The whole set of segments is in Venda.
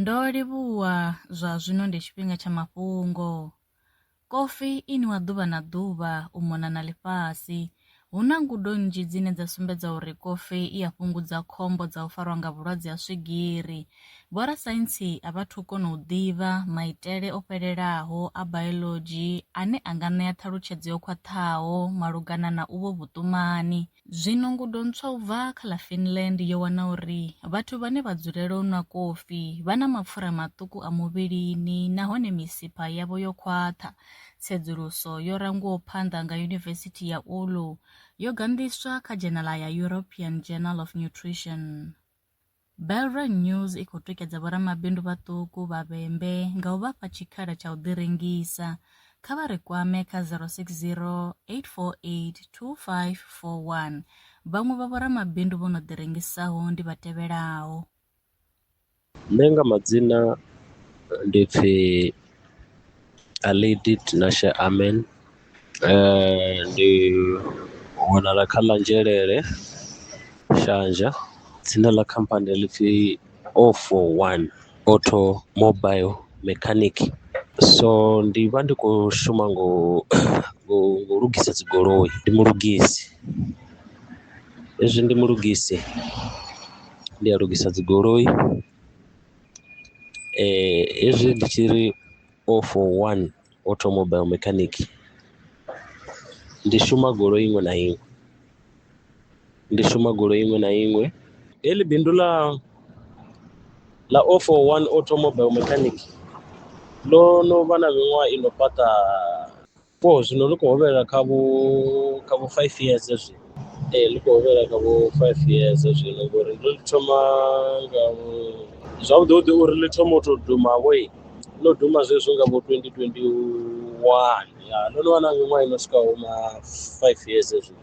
Ndo livhuwa, zwa zwino ndi tshifhinga tsha mafhungo. Kofi i nwiwa ḓuvha na ḓuvha u mona na ḽifhasi. Hu na ngudo nnzhi dzine dza sumbedza uri kofi i a fhungudza khombo dza u farwa nga vhulwadze ha swigiri. Vhorasaintsi a vha thu kona u ḓivha maitele o fhelelaho a biology ane a nga ṋea ṱhalutshedzo yo khwaṱhaho malugana na uvho vhuṱumani. Zwino ngudo ntswa u bva kha ḽa Finland yo wana uri vhathu vhane vha dzulela u nwa kofi vha na mapfura maṱuku a muvhilini nahone misipha yavho yo khwaṱha. Tsedzuluso yo rangwaho phanḓa nga Yunivesithi ya Oulu yo ganḓiswa kha dzhenala ya European Journal of Nutrition. Belron News i khou tikedza vhoramabindu vhaṱuku vha vhembe nga u vha fha tshikhala tsha u ḓi rengisa. Kha vha ri kwame kha 060 848 2541. Vhaṅwe vha vhoramabindu vho no ḓi rengisaho ndi vha tevhelaho. Nṋe nga madzina ndi pfi. A lady Tinashe Amen, ndi wanala kha ḽa Nzhelele, Shasha. Dzina ḽa khamphani ḽi pfhi O for one auto mobile mechanic. So ndi vha ndi khou shuma nga u nga u lugisa dzi goloi, ndi mulugisi hezwi ndi mulugisi ndi a lugisa dzi goloi. eh, hezwi ndi tshi ri o for one automobile mechanic ndi shuma goloi iṅwe na iṅwe ndi shuma goloi iṅwe na iṅwe heḽi bindu ḽa ḽa o for one automobile mechanic ḽo no vha na miṅwaha i no fhaṱa Vho zwino ḽi khou hovhelela kha vho kha vho five years zwi ee ḽi khou hovhelela kha vho five years zwino ngori ndo ḽi thoma nga zwavhuḓi vhuḓi uri ḽi thoma u tou duma vho ḽo duma zwezwo nga vho twenty twenty one ya ḽo no vha na miṅwaha ino swikaho ma five years zwi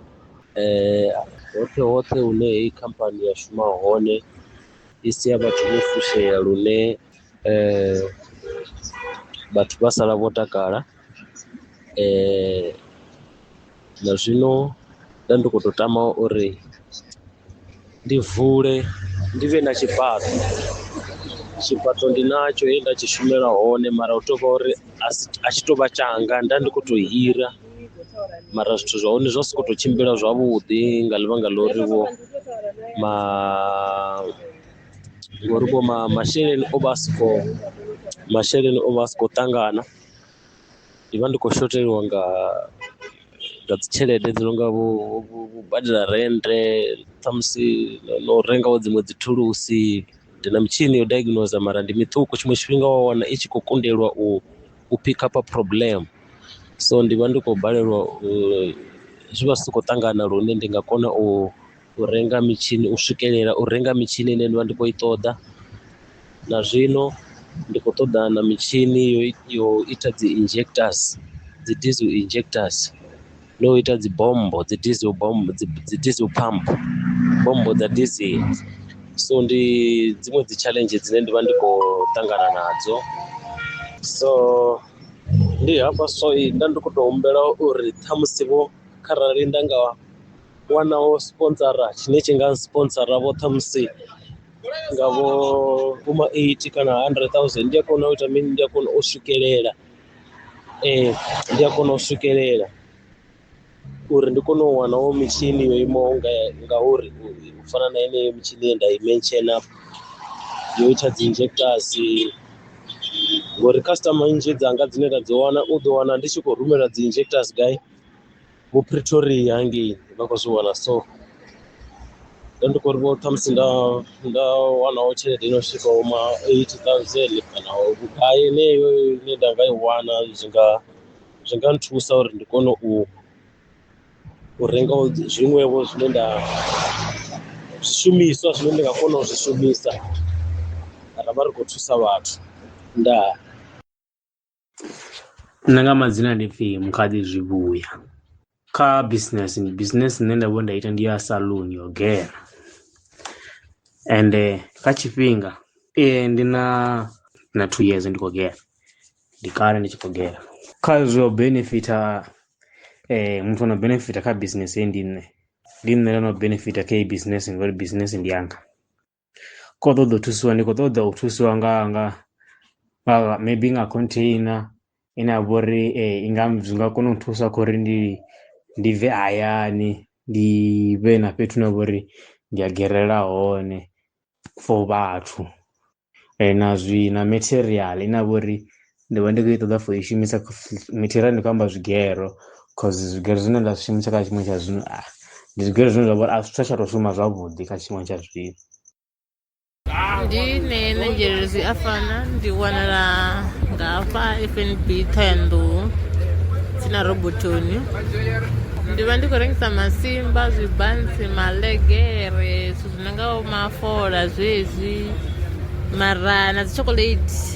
hoṱhe hoṱhe hune heyi khamphani ya shuma hone i sia vhathu vho fushea lune vhathu vha sala vho takala um na zwino nda ndi khou tou tama uri ndi vule ndi vhe na tshifhaṱo tshifhaṱo ndi natsho he nda tshi shumela hone mara hu tou vha uri a si a tshi tou vha tshanga nda ndi khou tou hira mara zwithu zwa hone zwa sokou tou tshimbila zwavhuḓi nga ḽivhanga ḽa uri vho ma ngori vho ma masheleni o vha a si khou masheleni o vha a si khou ṱangana. Ndi vha ndi khou shotheliwa nga nga dzi tshelede dzi nonga vho vho vho badela rennde ṱhamusi no renga vho dziṅwe dzi thulusi ndi na mitshini yo diagnoser mara ndi miṱuku tshiṅwe tshifhinga wa wana i tshi khou kundelwa u u pick up problem so ndi vha ndi khou balelwa u zwi vha zwi si khou ṱangana lune ndi nga kona u u renga mitshini u swikelela u renga mitshini ine nda vha ndi khou i ṱoḓa na zwino ndi khou ṱoḓa na mitshini yo yo ita dzi injectors dzi diesel injectors na u ita dzi bommbo dzi diesel bommbo dzi dzi diesel pump bommbo dza diesel so ndi dziṅwe dzi challenge dzine ndi vha ndi khou ṱangana nadzo so ndi hafha so nda ndi khou tou humbela uri ṱhamusi vho kharali nda nga wanaho sponsora tshine tshi nga sponsora vho ṱhamusi nga vho vhoma eighty kana hundred thousand ndi a kona u ita mini ndi a kona u swikelela ee ndi a kona u swikelela uri ndi kone u wanaho mitshini yo imaho nga ngauri u fana na yeneyo mitshini ye nda i mention up yo ita dzi injectors ngori customer nnzhi dzanga dzine nda dzi wana u ḓo wana ndi tshi khou rumela dzi injectors gai vho pretoria hangei vha khou zwi wana so nda ndi khou ri vho khamusi nda nda wanaho tshelede ino swika uma eight thousand kana vhugai heneyo ine nda nga i wana zwi nga zwi nga nthusa uri ndi kone u u renga zwiṅwevho zwine nda zwishumiswa zwine ndi nga kona u zwi shumisa ra vha ri khou thusa vhathu ndaa Nṋe nga madzina ndi pfhi Mukhaḓi Zwivhuya, kha business business ine nda vhori nda ita ndi ya saloon yo gera, ende kha tshifhinga ndi na na two years ndi khou gera ndi kale ndi tshi khou gera. Kha zwo benefitha muthu ano benefitha kha business heyi ndi nṋe, ndi nṋe ndono benefitha kha heyi business ngori business ndi yanga. kho ṱoḓa u thusiwa ndi khou ṱoḓa u thusiwa nga nga nga maybe nga container ine ya vha uri i nga zwi nga kona u thusa kha uri ndi ndi bve hayani ndi vhe na fhethu hune ha vha uri ndi a gerela hone for vhathu na zwi na material ine ya vha uri ndi vha ndi khou i ṱoḓa for i shumisa material ndi khou amba zwigero cause zwigero zwine nda zwi shumisa kha tshifhinga tsha zwino a ndi zwigero zwine zwa vha uri a zwi tsha tsha tou shuma zwavhuḓi kha tshifhinga tsha zwino ndi ne na nzhelelo zwi a fana ndi wanala nga hafha fnb ṱhoyanḓou tsini na robotoni ndi vha ndi khou rengisa masimba zwibantsi malegere zwithu zwi no nga mafola zwezwi mara na dzi chocolate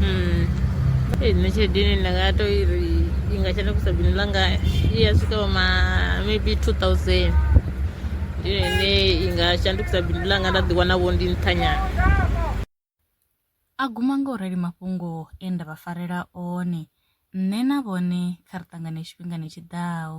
Mm. Eh, nne tshelede ine nda nga to i ri i nga shandukisa bindu ḽanga i ya swika vhoma maybe 2000 ndi yone ine i nga shandukisa bindu ḽanga nda ḓiwana vho ndi nṱhanyana a guma nga u rali mafhungo e nda vha farela one nṋe na vhone kha ri ṱangane tshifhingani tshi ḓaho